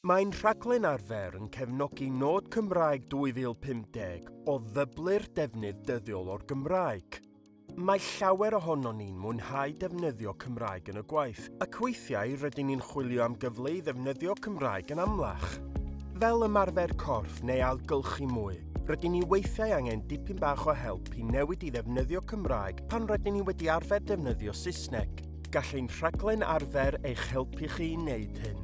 Mae'n rhaglen arfer yn cefnogi Nod Cymraeg 2050 o ddyblu'r defnydd dyddiol o'r Gymraeg. Mae llawer ohonon ni'n mwynhau defnyddio Cymraeg yn y gwaith, ac weithiau rydyn ni'n chwilio am gyfle i ddefnyddio Cymraeg yn amlach. Fel ymarfer corff neu ailgylchu mwy, rydyn ni weithiau angen dipyn bach o help i newid i ddefnyddio Cymraeg pan rydyn ni wedi arfer defnyddio Saesneg. Gall ein rhaglen arfer eich helpu chi i wneud hyn.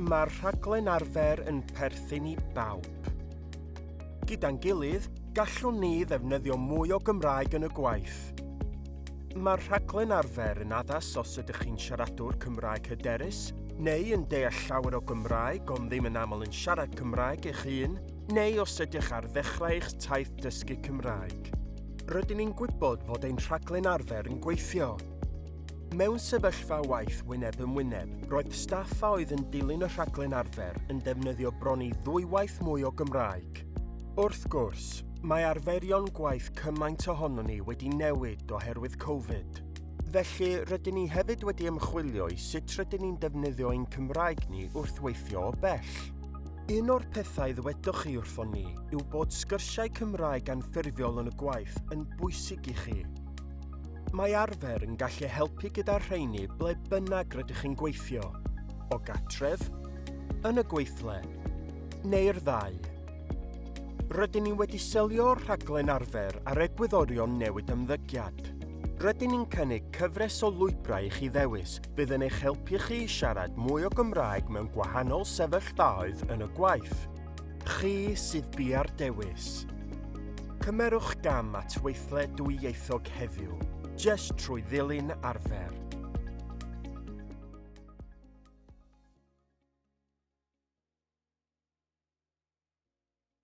Mae'r rhaglen arfer yn perthyn i bawb. Gyda'n gilydd, gallwn ni ddefnyddio mwy o Gymraeg yn y gwaith. Mae'r rhaglen arfer yn addas os ydych chi'n siaradwr Cymraeg hyderus, neu yn deall llawer o Gymraeg ond ddim yn aml yn siarad Cymraeg eich hun, neu os ydych ar ddechrau eich taith dysgu Cymraeg. Rydyn ni'n gwybod fod ein rhaglen arfer yn gweithio. Mewn sefyllfa waith wyneb yn wyneb, roedd staff a oedd yn dilyn y rhaglen arfer yn defnyddio bron i ddwywaith mwy o Gymraeg. Wrth gwrs, mae arferion gwaith cymaint ohonon ni wedi newid oherwydd Covid. Felly, rydyn ni hefyd wedi ymchwilio i sut rydyn ni'n defnyddio ein Cymraeg ni wrth weithio o bell. Un o'r pethau ddwedoch chi wrthon ni yw bod sgyrsiau Cymraeg anffurfiol yn y gwaith yn bwysig i chi. Mae arfer yn gallu helpu gyda'r rheini ble bynnag rydych chi'n gweithio, o gatref, yn y gweithle, neu'r ddau. Rydyn ni wedi selio'r rhaglen arfer ar egwyddorion newid ymddygiad. Rydyn ni'n cynnig cyfres o lwybrau i chi ddewis fydd yn eich helpu chi i siarad mwy o Gymraeg mewn gwahanol sefyllfaoedd yn y gwaith. Chi sydd bia'r dewis. Cymerwch gam at weithle dwyieithog heddiw, jest trwy ddilyn arfer.